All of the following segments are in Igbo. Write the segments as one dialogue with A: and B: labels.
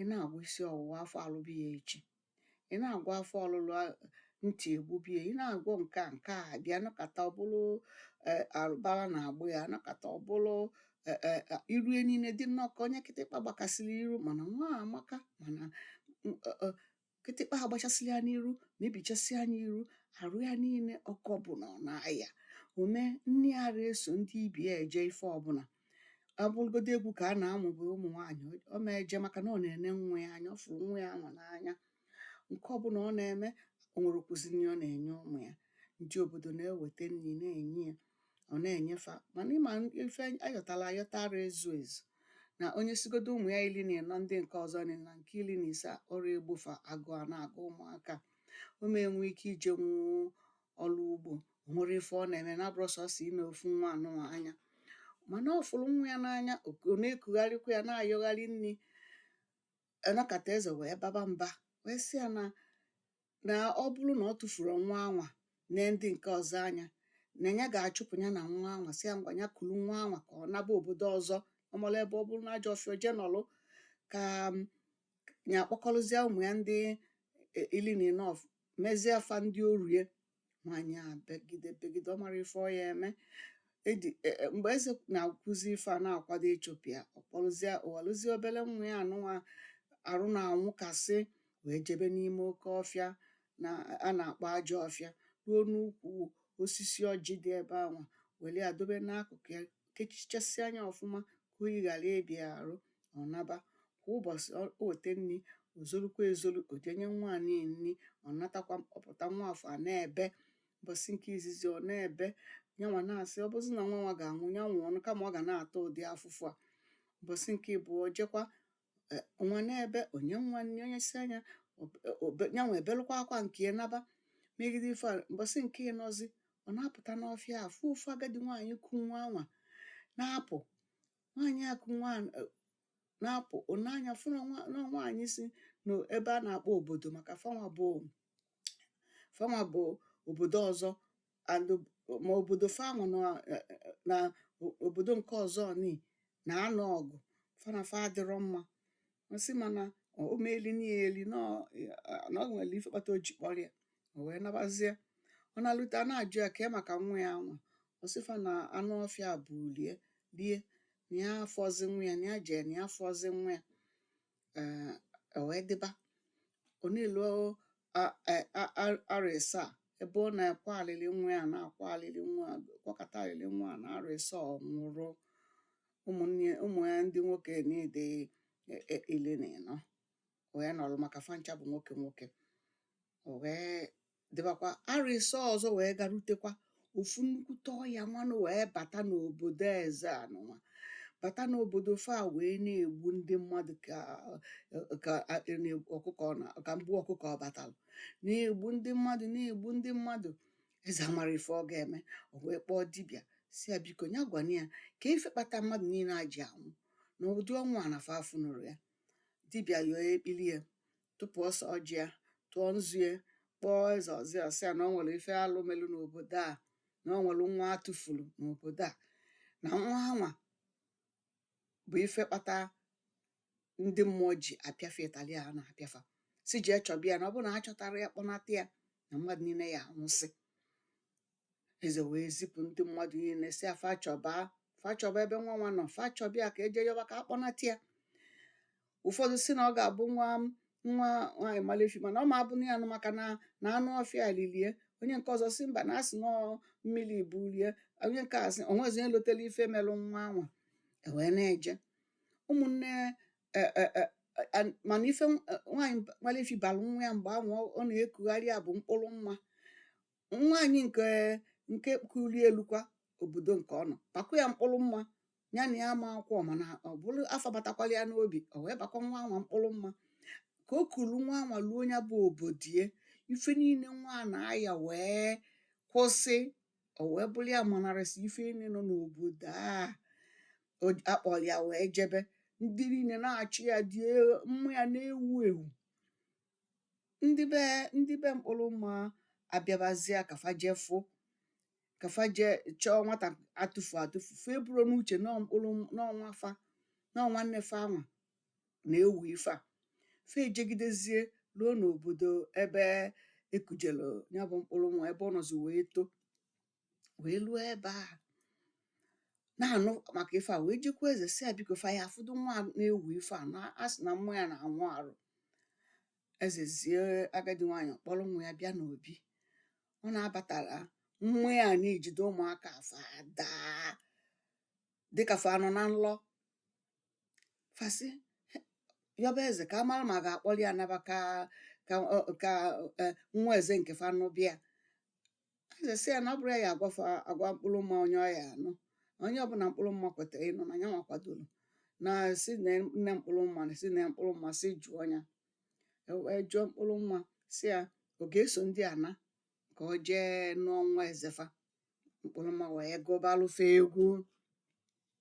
A: ị na-agwọ isi ọwụwa afọ alụbe ya echi ị na-agwọ afọ ọlụlụ ntị egbube ya ị na-agwọ nke a nke a abịa a nọkata ọ bụlụ e, arụbara na-agba ya a nọkata ọ bụlụ e, e, iru niile dị nnọọ ka onye kịtịkpa gbakasịrị iru mana nwa amaka mana kịtịkpa agbachasị ya n'iru mebichasịa nya iru arụ ya niile oge ọbụla ọ na-aya o mee nne ya ara eso ndị ibe ya eje ife ọbụla ọ bụrụgodu egwu ka a na-amụ bụ ụmụ nwaanyị ọ ma eje maka na ọ na-ene nwa ya anya ọ fụrụ nwa ya anwa n'anya nke ọbụla ọ na-eme o nwerọkwụzi nri ọ na-enye ụmụ ya ndị obodo na-eweta nri na-enye ya ọ na-enye fa mana ị ma ife a yọtala ayọta ara ezu ezu na o nyesịgodu ụmụ ya ili na ịnọ ndị nke ọzọ na nke ili na ise ọ rọ egbo fa agụụ ana-agụ ụmụaka ọ ma enwe ike ije nwụ ọrụ ugbo o nwerọ ife ọ na-eme na-abụrọ sọsọ ine ofu nwa anụnwa anya mana ọ fụrụ nwa ya n'anya ọ na-ekugharịkwa ya na-ayọgharị nri a nọkata eze wee baba mba wee sị ya na na ọ bụrụ na ọ tụfurọ nwa anwa nee ndị nke ọzọ anya na ya ga-achụpụ ya na nwa anwa sị ya ngwa ya kuru nwa anwa ka ọ naba obodo ọzọ ọ mala ebe ọ bụrụ na ajọ ọfịa o jee nọlụ ka ya kpọkọrọzie ụmụ ya ndị e, ili na ịnọ afụ mezie fa ndị oru ya nwaanyị a begide begide ọ marọ ife ọ ya-eme e e, mgbe eze na-ekwuzi ife a na-akwado ịchụpụ ya ọ kpọrọzie o welụzie obele nwa ya anụnwa arụ na-anwụkasị wee jebe n'ime oke ọfịa na a na-akpọ ajọ ọfịa ruo n'ukwu osisi ọjị dị ebe anwa were ya dobe n'akụkụ ya kechichasịa nya ọfụma ka oyi ghara ịba ya arụ ọ naba kwa ụbọchị ọ o weta nri o zorukwa ezoru o jee nye nwa a nri ọ natakwa ọ pụta nwa afụ ana-ebe ụbọchị nke izizi ọ na-ebe yanwa na-asị ọ bụzị na nwa anwa ga-anwụ ya nwụọnụ kama ọ ga na-ata ụdị afụfụ a ụbọchị nke ịbụọ o jekwa e, nwa na-ebe o nye nwa nri o nyesịa nya nyanwa ebelụkwa akwa nke ya naba megide ife a mbọsị nke ịnọzi ọ na-apụta n'ọfịa afụ ofu agadi nwaanyị ku nwa anwa na-apụ nwaanyị a ku nwa e, na-apụ o nee anya fụ na nwaanyị si n'ebe a na-akpọ obodo maka fanwa bụ fanwa bụ obodo ọzọ and ob- ma obodo fanwa na eh, eh, na o- obodo nke ọzọ ni na-anụ ọgụ fa na fa adịrọ mma ọ sị mana o meeli nieli na ọ eh, na o nwere ife kpata o ji kpọrọ ya o wee nabazie ọ nalute a na-ajụ ya kee maka nwa ya anwa ọ sị fa na anụ ọfịa ebulu ya lie na ya afọzi nwa ya na ya jee na ya afọzi nwa ya o wee dịba ọ na-elu a- a- a- a- arọ ịsaa, ebe ọ na-akwa alịlị nwa ya na-akwa alịlị nwa a, kwakọta alịlị nwa a na arọ ịsaa ọ nwụrụ ụmụ- ụmụ ya ndị nwoke niile e- e- ili na ịnọ wee nọrọ maka fa ncha bụ nwoke nwoke o wee dịbakwa arọ ịsaa ọzọ wee garutekwa ofu nnukwute ọya nwanụ wee bata n'obodo eze anụnwa bata n'obodo fa wee na-egbu ndị mmadụ ka mgbu ọkụkọ ọ batalụ na-egbu ndị mmadụ na-egbu ndị mmadụ eze amarọ ife ọ ga-eme o wee kpọọ dibịa sị ya biko ya gwana ya ka ife kpata mmadụ niile a ji anwụ na ụdị ọnwụ a na fa afụnụrọ ya dibịa yọọ ekpili ya tụpụ ose ọjị ya tụọ nzu ya kpọọ eze ọzọ sị ya na ọ nwere ife alụ melu n'obodo a na ọ nwere nwa a tụfulu n'obodo a na nwa anwa bụ ife kpata ndị mmụọ ji apịa fa ịtali a na-apịa fa sị jee chọba ya na ọ bụrụ na a chọtarọ ya kpọnata ya na mmadụ niile ya anwụsị eze wee zipụ ndị mmadụ niile sị fa chọba fa chọba ebe nwa anwa nọ fa chọba ya ka e je yọba ka a kpọnata ya ụfọdụ sị na ọ ga-abụ nwa nwa nwaanyị malefi mana ọ ma abụ na ya nụ maka na na anụ ọfịa lilie onye nke ọzọ sị mba na a sị na ọ mmili bulie onye nke a sị o nwezi onye lotela ife melụ nwa anwa e wee na-eje ụmụnne e, e, e, a- mana ife nwaanyị malefi balụ nwa ya mgbe ahụ ọ- ọ na-ekugharị ya bụ mkpụrụ mma nwaanyị nke nke kulie lukwa obodo nke ọ nọ bakwa ya mkpụrụ mma ya na ya amakọ mana ọ bụ afa batakwalụ ya n'obi o wee bakwa nwa anwa mkpụrụ mma ka o kulu nwa anwa luo ya bụ obodie ife niile nwa a na-aya wee kwụsị o wee bụrụ ya manarịsị ife niile nọ n'obodo a o ji- a kpọrọ ya wee jebe ndị niile na-achị ya ude mma ya na-ewu ewu ndị be ndị be mkpụrụ mmà abịabazịa kà fa je fụ kà fa je chọọ nwatà a tụfù atụfù fa eburọ n'uchè na ọ mkpụrụ na ọ nwa fa na ọ nwanne fa anwà nà-ewù ife à fa èjegidezie luo n'òbòdò ebe e kùjèlù ya bụ mkpụrụ mmà ebe ọ nọ̀zì wèe too wee luo ebe a na-anụ maka ife a wee jekwu eze sị ya biko fa ya afụdụ nwa na-ewu ife a na a sị na mma ya na-anwụ arụ eze zie agadi nwaanyị kpọrọ nwa ya bịa n'obi ọ na-abatara mma ya na-ejide ụmụaka fa daa dịka fa nọ na nlọ fa sị yọba eze ka a mara ma a ga-akpọlụ ya naba ka ka ọ- ka eh, nwa eze nke fa nụba ya eze sị ya na ọ bụrọ ya ya agwafa agwa mkpụrụ mma onye ọ ya anụ na onye ọbụla mkpụrụ mma kwetara ịnụ na ya nwa kwadoro na si nee mkpụrụ mma na si nee mkpụrụ mma si jụọ ya E wee jụọ mkpụrụ mma si ya ọ ga-eso ndị a naa ka ọ jee nụọ nwa ezefa mkpụrụ mma wee gụbalụfa egwu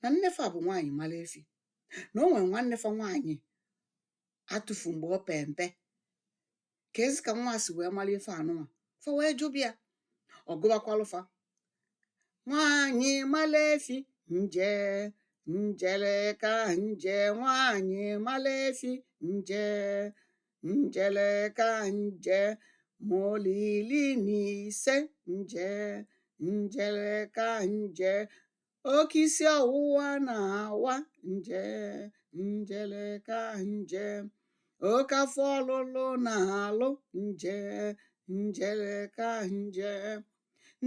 A: na nnefa bụ nwaanyị mara efi na o nwere nwannefa nwaanyị a tụfu mgbe ọ pe mpe keezi ka nwa a si wee mara ife anụnwa fa wee jụba ya ọ gụbakwalụfa nwaanyị mara efi nje njele ka nje nwaanyị mara efi nje njele ka nje ma olili na ise nje njele ka nje oke isi ọwụwa na-awa nje njele ka nje oke afọ ọlụlụ na-alụ nje njele ka nje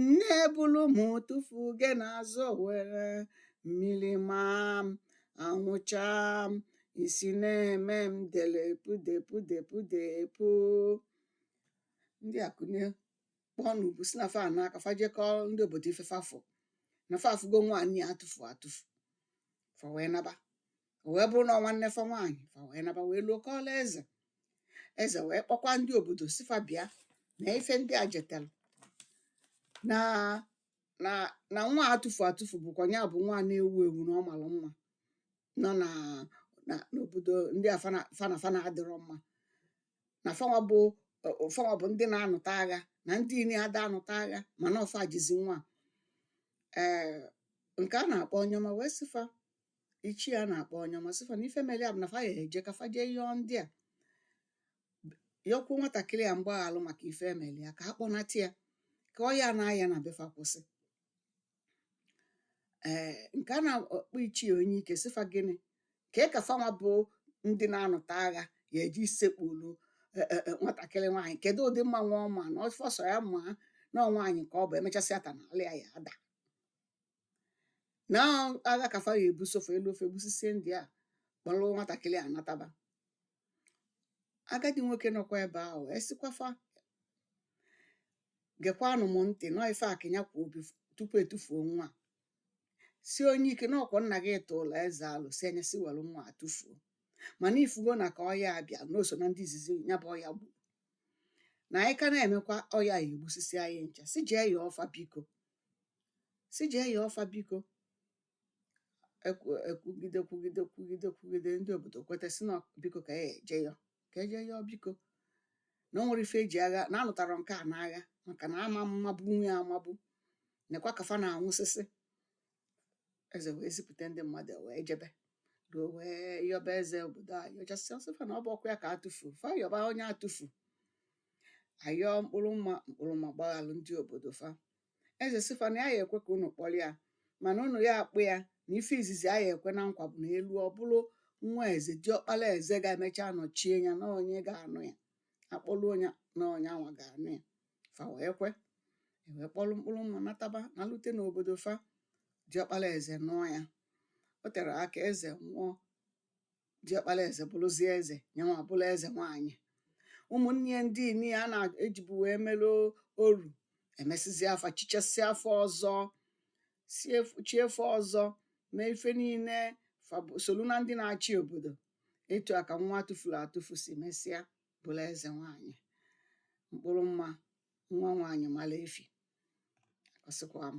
A: nne ebulu m tụfu gị n'azụ owere mmiri maa m anwụ chaa m isi na-eme m delepu depudepu depu ndị a kunie kpọọ n'ubu si na fa anaa ka fa je kọọ ndị obodo ife fa fụ na fa afụgo nwaanyị a atụfu atụfu fa wee naba o wee bụrụ na ọ nwanne fa nwaanyị fa wee naba wee luo kọọlụ eze eze wee kpọkwa ndị obodo si fa bịa na ife ndị a jetere na na na nwa atụfu atụfu bụkwa ya bụ nwa na-ewu ewu na ọ mara mma nọ na na- n'obodo ndị a fa na fa na fa na-adịrọ mma na fanwa bụ ọ- ọ- fanwa bụ ndị na-anụta agha na ndị ini ada anụta agha mana ọ fa jizi nwa ee nke a na-akpọ onye ọma wee sịfa ichie a na-akpọ onye ọma sịfa na ife mere ya bụ na fa ya eje ka fa jee yọọ ndị a yọkwuo nwatakịrị a mgbaghalụ maka ife e melụ ya ka a kpọnata ya ka ọya na-aya na befa kwụsị ee nke a na-akpọ ichie onye ike sị fa gịnị kee ka fanwa bụ ndị na-anụta agha ya eji sekpuru e, e, e, nwatakịrị nwaanyị kedu ụdị mma nwa ọ ma na ọfọ sọ ya maa na ọ nwaanyị ka ọ bụ emechasịa taa na ala ya ya ada na agha ka fa ya ebuso fa eluo fa egbusisie ndị a kpọrọ nwatakịrị a nataba agadi nwoke nọkwa ebe ahụ wee sịkwafa gekwanụ m ntị na ọ ife a ka ya kwu bif- tupu etufuo nwa a." si onye ike na ọkwa nna gị tụụlụ eze alo si ya si were nwa a tụfuo mana ị fụgo na ka ọya a bịa na o so na ndị izizi ya bụ ọya gburu na anyị ka na-emekwa ọya ya egbusisi anyị ncha si jee yọọ fa biko si jee yọọ fa biko ekwugide kwugide kwugide kwugide ndị obodo kweta si na biko ka e je yọ ka eje yọọ biko na o nwere ife eji agha na anụtara nke a n'agha maka na ama mmabụ nwe ya amabụ nekwa ka fa na-anwụsịsị eze wee zipụta ndị mmadụ e wee jebe ruo wee yọba eze obodo a yọchasịa ọ sị fa na ọ bụrọkwa ya ka atụfu fa yọba onye atụfu ayọọ mkpụrụ mma mkpụrụ mma gbaghalụ ndị obodo fa eze sị fa na ya ya ekwe ka unu kpọrọ ya mana unu ya akpụ ya na ife izizi a ya ekwe na nkwa bụ na eluo ọ bụrụ nwa eze diọkpala eze ga-emecha nọchie ya na ọ nya ga-anụ ya akpọlụ nya na ọ nyanwa ga-anụ ya fa wee kwe ewee kpọrọ mkpụrụ mma nataba nalute n'obodo fa diọkpala eze nụọ ya o tere aka eze nwụọ diọkpala eze bụrụzie eze nyanwa bụrụ eze nwaanyị ụmụnne ya ndị ini a na-ejibu wee mere oru emesizia fa chichasịa fa ọzọ chie fa ọzọ mee ife niile fa solu na ndị na-achị obodo etu a ka nwa atụfuru atụfu si mesịa bụrụ eze nwaanyị mkpụrụ mma nwa nwaanyị mara efi akọsịkwa m